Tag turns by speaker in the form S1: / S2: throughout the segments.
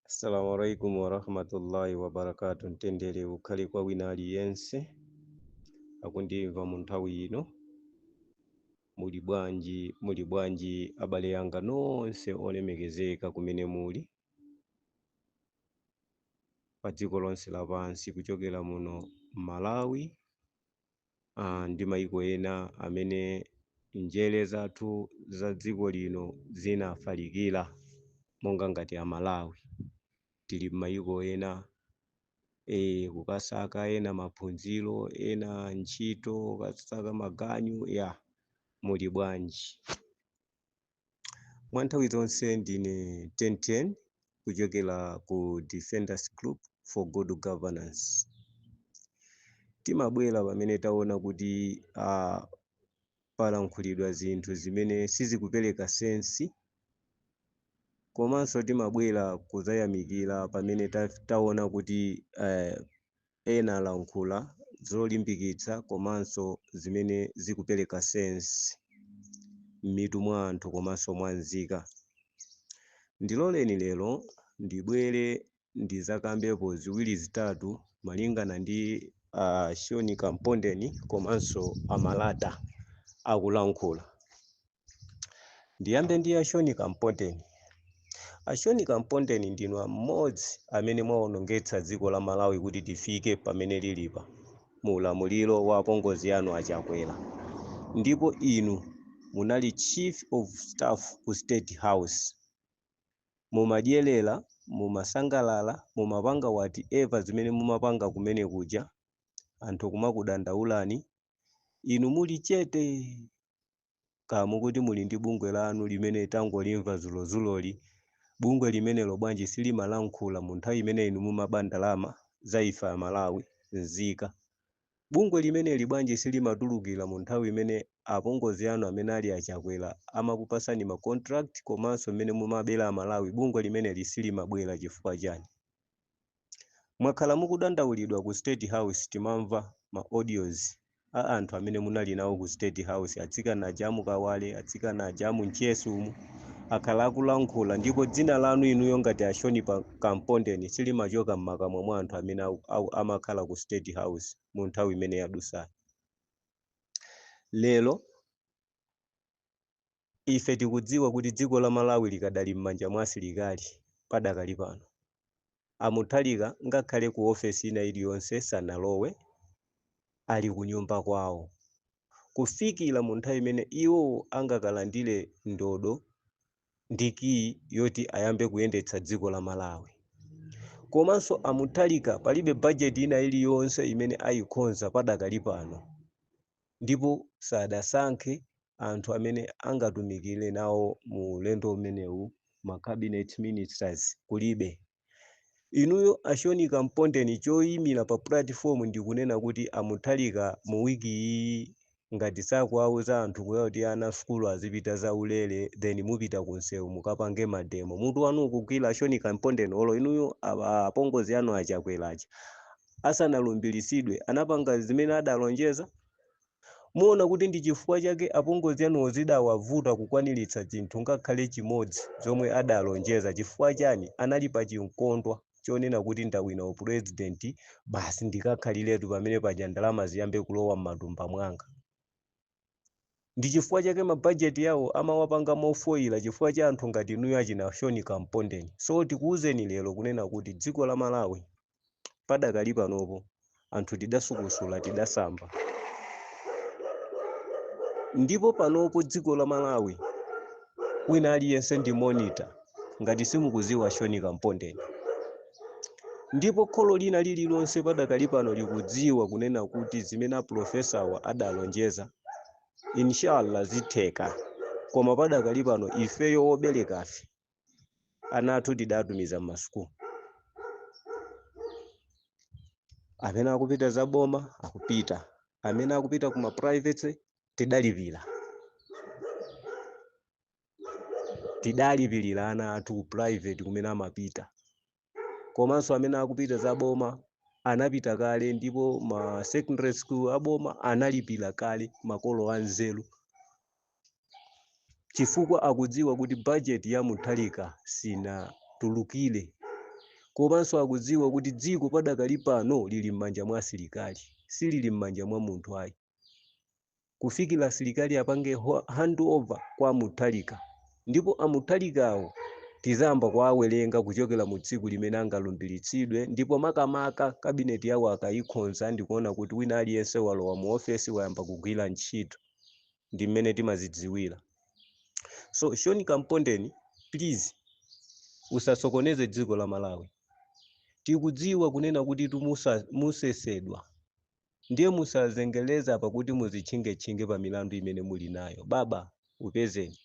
S1: assalamu alaikum warahmatullahi wabarakatu mtendere ukhale kwa wina aliyense akundimva mu nthawi ino muli bwanji muli bwanji abale anga nonse olemekezeka kumene muli pa dziko lonse lapansi kuchokera muno malawi uh, ndi maiko ena amene njere zathu za dziko lino zinafalikira monga ngati amalawi tili m'mayiko ena e, kukasaka ena maphunziro ena ntchito kukasaka maganyu ya muli bwanji mwa nthawi zonse ndine tenten kuchokera ku defenders group for good governance timabwera pamene taona kuti uh, palankhulidwa zinthu zimene sizikupereka sensi komanso timabwera kuzayamikira pamene ta, taona kuti uh, Ena alankhula zolimbikitsa komanso zimene zikupeleka sense mmitu mwa anthu komanso mwa nzika. Ndiloleni lero ndibwere ndizakambepo ziwiri zitatu malingana ndi a Sean Kampondeni komanso a Malata akulankhula. ndiyambe ndi a sean kampondeni a sean kampondeni ndinu mmodzi amene mwaonongetsa dziko la malawi kuti tifike pamene lilipa mu ulamuliro wa apongozi anu a chakwera ndipo inu munali chief of staff ku state house mumadyerera mumasangalala mumapanga whatever zimene mumapanga kumene kuja anthu kumakudandaulani inu muli chete kaya mukuti muli ndi bungwe lanu limene tangolimva zulozuloli bungwe limeneli bwanji silimalankhula mu nthawi imene inu mumaba ndalama za ife amalawi nzika bungwe limeneli bwanji silimatulukira mu nthawi imene apongozi anu amene ali a chakwera amakupasani ma contract komanso mmene mumabera amalawi bungwe limeneli silimabwera chifukwa chani Mwakhala mukudandaulidwa ku state house timamva ma audios a anthu amene munali nawo ku state house atsikana aja amu Kawale atsikana aja amu Mchesi umu akhala akulankhula ndipo dzina lanu inuyo ngati a Sean pa Kampondeni silimachoka mmakamwa mwa anthu amene aku, aku, amakhala ku state house mu nthawi imene yadutsayi. Lero Ife tikudziwa kuti dziko la Malawi likadali m'manja mwa asilikali padakali pano. A Mutharika ngakhale ku office ina iliyonse sanalowe, ali kunyumba kwawo kufikira mu nthawi imene iwo angakalandire ndodo ndi key yoti ayambe kuyendetsa dziko la Malawi. Komanso a Mutharika palibe budget ina iliyonse imene ayikhonza padakali pano. ndipo sadasankhe anthu amene angatumikire nawo mu ulendo umenewu ma cabinet ministers kulibe. Inuyo a Sean Kampondeni choyimira pa platform ndi kunena kuti a Mutharika mu week iyiyi ngati sakuwauza anthu kunena kuti ana sukulu azipita za ulere then mupita ku nsewu mukapange mademo. Mutu wanu ukugwira a Sean Kampondeni olo inuyo a apongozi anu a Chakwera aja asanalumbiritsidwe, anapanga zimene adalonjeza? Muona kuti ndi chifukwa chake apongozi anuwo zidawavuta kukwaniritsa chinthu ngakhale chimodzi chomwe adalonjeza. Chifukwa chani? Anali pa chinkondwa chonena kuti ndawina upresident, basi ndikakhaliretu pamene paja ndalama ziyambe kulowa m'matumba mwanga. ndichifukwa chake ma budget yawo amawapanga mofoira chifukwa cha anthu ngati inuyo achina Sean Kampondeni so tikuuzeni lero kunena kuti dziko la malawi padakali panopo anthu tidasukusula tidasamba ndipo panopo dziko la malawi wina aliyense ndi monitor. ngati simukuziwa Sean Kampondeni ndipo kholo lina lililonse padakali pano likudziwa kunena kuti zimene apulofesawa adalonjeza inshallah zitheka koma padakali pano ifeyo woberekafe ana athu tidatumiza m'masukulu amene akupita za boma akupita amene akupita kuma private tidalipira tidalipirira ana athu ku private kumene amapita komanso amene akupita za boma anapita kale ndipo ma secondary school aboma analipira kale makolo anzeru chifukwa akudziwa kuti budget ya Mutharika sinatulukire komanso akudziwa kuti dziko padakali pano lili m'manja mwa asilikali silili m'manja mwa munthu ayi kufikira asilikali apange hand over kwa a Mutharika ndipo a Mutharikawo tizayamba kuwawerenga kuchokera mu tsiku limene angalumbiritsidwe ndipo makamaka kabineti yawo akayikhonza ndikuona kuti wina aliyense walowa mu ofesi wayamba kugwira ntchito ndi mmene timazidziwira so Sean Kampondeni please usasokoneze dziko la Malawi tikudziwa kunena kuti tumusa- musesedwa Ndiye musazengeleza pakuti muzitchingetchinge pa milandu imene muli nayo. Baba, upezeni.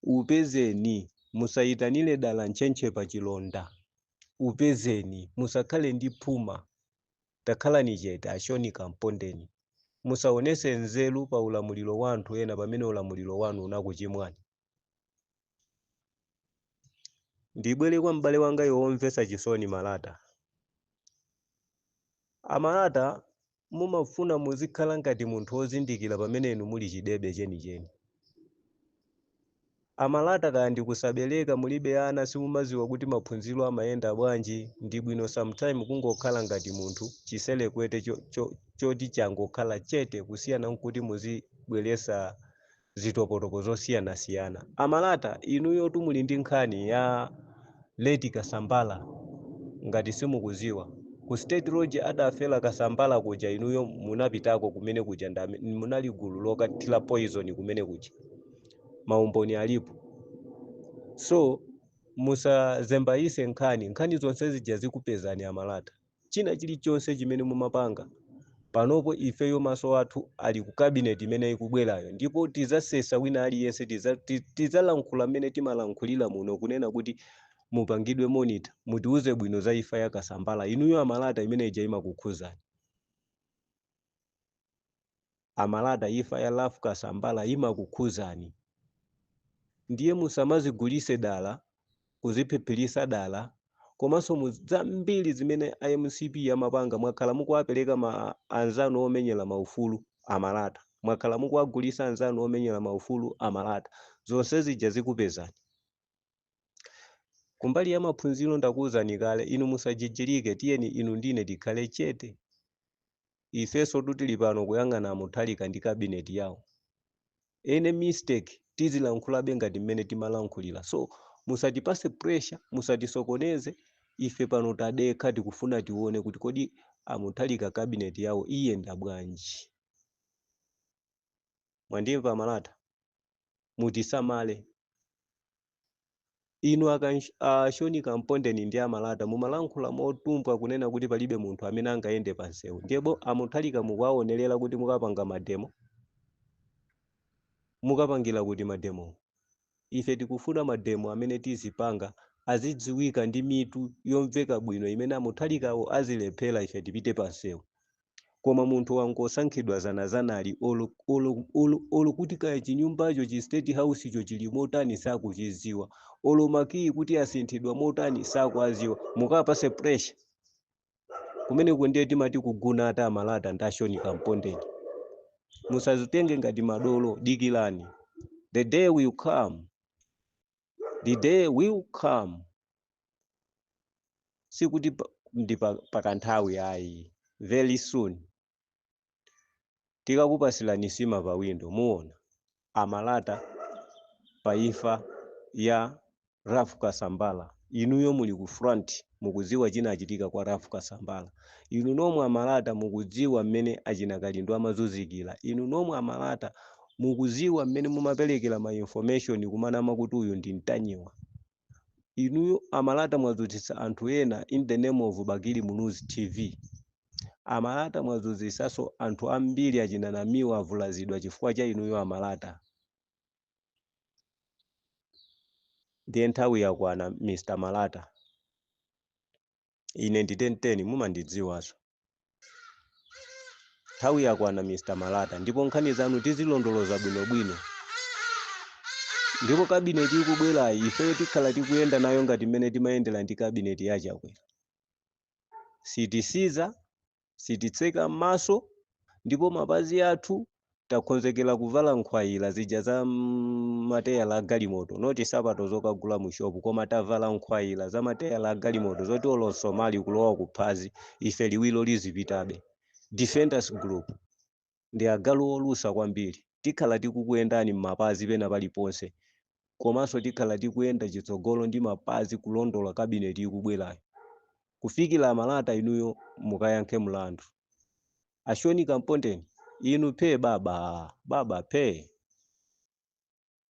S1: Upezeni. Musayitanire dala ntchentche pa chilonda. Upezeni. Musakhale ndi phuma. Takhalani chete, a Sean Kampondeni. Musaonese nzeru pa ulamuliro wa anthu ena pamene ulamuliro wanu unakuchimwani. ndibwere kwa m'bale wanga yu womvetsa chisoni Malata a Malata mumafuna muzikhala ngati munthu wozindikira pamene inu muli chidebe chenicheni a Malata kaya ndikusabereka mulibe ana simumaziwa kuti maphunziro amayenda bwanji ndi bwino sometime kungokhala ngati munthu chiselekwete choti changokhala chete kusiyana nkuti muzibweresa zitopotopo zosiyanasiyana. A Malata inuyotu muli ndi nkhani ya late Kasambala ngati simukuziwa. Ku State Lodge adafela Kasambala kuja inuyo munapitako kumene kuja munali gulu lokathila poison kumene kuja. Maumboni alipo. So musazembayise nkhani. Nkhani zonse zija zikupezani a Malata. China chilichonse chimene mumapanga panopo ifeyo maso athu ali ku cabinet imene ikubwerayo ndipo tizasesa wina aliyense tizalankhula mmene timalankhulira muno kunena kuti mupangidwe monitor mutiuze bwino za ifa ya Kasambala inuyo a Malata imene ija imakukhuzani. a Malata ifa ya Ralph Kasambala imakukhuzani ndiye musamazigulise dala kuziphiphilisa dala komanso mu zambiri zimene MCP yamapanga mwakhala mukuwapeleka anzanu omenyela maufulu a Malata mwakhala mukuwagulisa anzanu omenyela maufulu a Malata zonse zija zikupezani Kumbali ya maphunziro ndakuwuzani kale, inu musajijirike, tiyeni inu ndi ine tikhale chete. Ifensotu tili pano kuyang'ana a Mutharika ndi cabinet yawo. Any mistake tizilankhulabe ngati mmene timalankhulira. So, musatipase pressure, musatisokoneze, ife pano tadekha tikufuna tione kuti kodi a Mutharika cabinet yawo iyenda bwanji. Mwandimva a Malata? mutisamale. Inu a Sean Kampondeni ndi a Malata mumalankhula motumbwa kunena kuti palibe munthu amene angayende pa nsewu. Ndipo a Mutharika mukuwaonerera kuti mukapanga mademo? Mukapangira kuti mademowo? Ife tikufuna mademo amene tizipanga azidziwika ndi mitu yomveka bwino imene a Mutharikawo azilephera ife tipite pa nsewu. koma munthu wangosankhidwa zanazanali olo, olo, olo, olo kuti kaya chinyumbacho chi state housecho chili motani sakuchiziwa olo makiyi kuti asinthidwa motani sakuaziwa mukapase pressure kumeneko ndiye timati kuguna ata a Malata ndi a Shoni Kampondeni musazitenge ngati madolo dikilani the day will come the day will come sikuti pa- ndi pa- pakanthawi ayi very soon tikakupasilani sima pa windo muona a Malata pa imfa ya Ralph Kasambala inuyo muli ku front mukudziwa chinachitika kwa Ralph Kasambala inu nomwe a Malata mukudziwa mmene achina Kalindo amazunzikira inu nomwe a Malata mukuziwa mmene mumapelekela ma information kumanama kuti uyu ndi Ntanyiwa inuyo a Malata mwazunzitsa anthu ena in the name of Bakili Muluzi TV a Malata mwazunzisaso anthu ambiri achina Namiwa avulazidwa chifukwa cha inuyo a Malata ndiye nthawi yakwana mr Malata ine ndi 1010 mumandidziwaso nthawi yakwana mr Malata ndipo nkhani zanu tizilondoloza bwinobwino ndipo kabineti ikubwerayi ifeyo tikhala tikuyenda nayo ngati mmene timayendera ndi kabineti ya Chakwera sitisinza sititseka m'maso ndipo mapazi athu takhonzekera kuvala nkhwayira zija za mateyala a galimoto not sapato zokagula mu shopu koma tavala nkhwayira za mateyala a galimoto zoti olo msomali kulowa kuphazi ife liwiro lizipitabe defenders group ndi agalu olusa kwambiri. Tikhala tikukuyendani mmapazi pena paliponse komanso tikhala tikuyenda chitsogolo ndi mapazi kulondola cabinet ikubwerayo kufikila Malata inuyo mukayankhe mlandu. A Shoni Kampondeni inu phee babaa! Baba phee!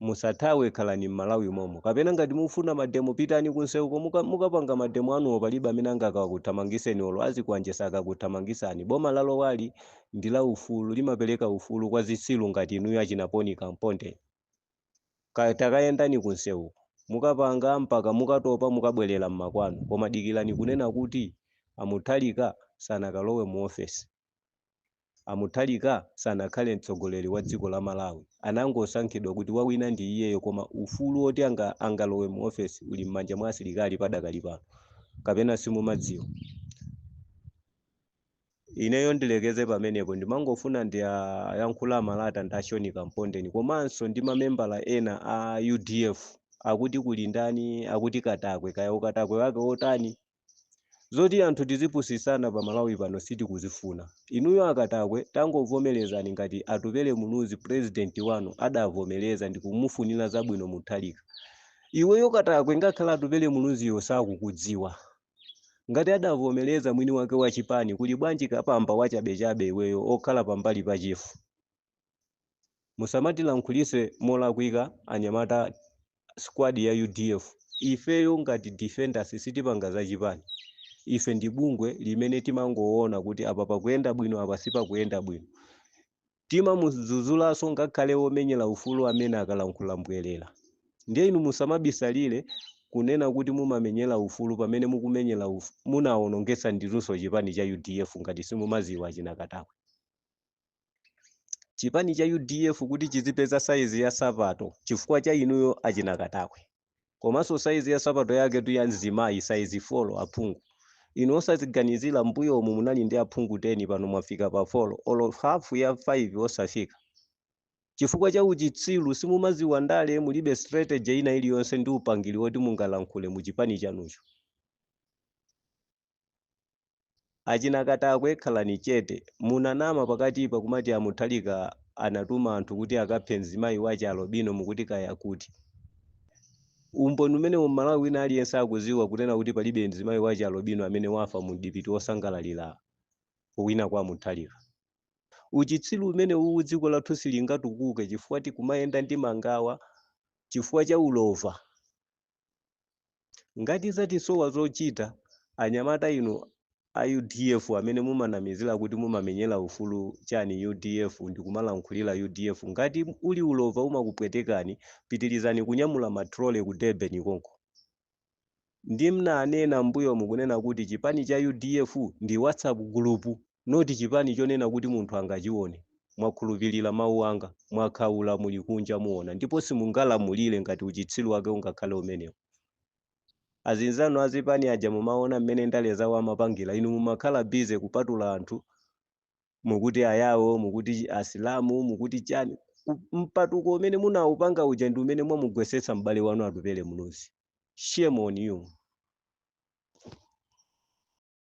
S1: musathawe khalani m'Malawi momo kapena ngati mufuna mademo pitani kunseuko muka mukapanga mademo anuwo palibe amene angakakuthamangiseni olo azikwanje sakakuthamangisani boma lalowa'li ndi la ufulu limapeleka ufulu kwa zitsilu ngati inuyo achina Poni Kamponde ka takayendani kunseuko mukapanga mpaka mukatopa mukabwelela mmakwanu koma dikilani kunena kuti a Mutharika sanakalowe mu office A Mutharika sanakhale mtsogoleri wa dziko la Malawi, anangosankhidwa kuti wawina ndi iyeyo koma ufulu woti angalowe mu ofesi uli m'manja mwa asilikali padakali pano. Kapena simumadziwa? Ineyo ndilekeze pamenepo, ndimangofuna ndiayankhule a Malata ndi a Shoni Kampondeni komanso ndi mamembala ena a udf akuti kuli ndani, akuti Katakwe, kaya ukatakwe wake wotani? Zoti anthu tizipusitsana pa Malawi pano sitikuzifuna. Inuyo a Katakwe tangovomerezani ngati Atupele Muluzi president wanu adavomereza ndikumufunira zabwino Mutharika. Iweyo Katakwe ngakhale Atupele Muluziyo sakukudziwa. Ngati adavomereza mwini wake wa chipani kuli bwanji kapamba wachabechabe iweyo okhala pambali pa chifu. Musamatilankhulise molakwika anyamata squad ya udf ifeyo ngati defenders sitipanga za chipani ife ndi bungwe limene timangoona kuti apa pakuyenda bwino apa sipakuyenda bwino timamuzuzulaso ngakhale omenyela ufulu amene akalankhula mbwelela ndiye inu musamabisalile kunena kuti mumamenyela ufulu pamene mukumenyela munawonongesa ndinuso chipani cha udf ngati simumaziwa achina katakwe. chipani cha udf kuti chizipeza saizi ya sapato chifukwa cha inuyo achina katakwe komanso saizi ya sapato yake tu ya mzimayi saizi folo aphungu inu osaziganizira mbuyo umu munali ndi aphungu 10 pano mwafika pa folo olo hafu ya 5 osafika chifukwa cha uchitsiru simumaziwa ndale mulibe strategy ina iliyonse ndi upangiri woti mungalankhule mu chipani chanucho Achina Katakwe khalani chete. Munanama pakatipa kumati a Mutharika anatuma anthu kuti akaphe mzimayi wa chi alobino mukuti kaya kuti. Umboni umenewo Mmalawi wina aliyense akuziwa kunena kuti palibe mzimayi wa chi alobino amene wafa mu mdipiti osangalalira kuwina kwa Mutharika. Uchitsiru umenewuwu dziko lathu silingatukuke chifukwa tikumayenda ndi mangawa chifukwa cha ulova. Ngati zatisowa zochita, anyamata inu a udf amene mumanamizila kuti mumamenyela ufulu chani udf ndikumalankhulila udf ngati uli ulova umakupwetekani pitilizani kunyamula ma trolley ku Durban konko. Ndi mnanena mmbuyomu kunena kuti chipani cha udf ndi whatsapp group. not chipani chonena kuti munthu angachione. Mwakhulupilira mau anga, mwakhaula muli kunja muona ndipo simungalamulire ngati uchitsiru wake ungakhale umenewo. Azinzanu azipani aja mumaona mmene ndale zawo amapangira inu mumakhala busy kupatula anthu mukuti ayao mukuti asilamu mukuti chani. Mpatuko umene munaupanga uja ndi umene mwamugwesetsa m'bale wanu Atupele Muluzi. Shame on you.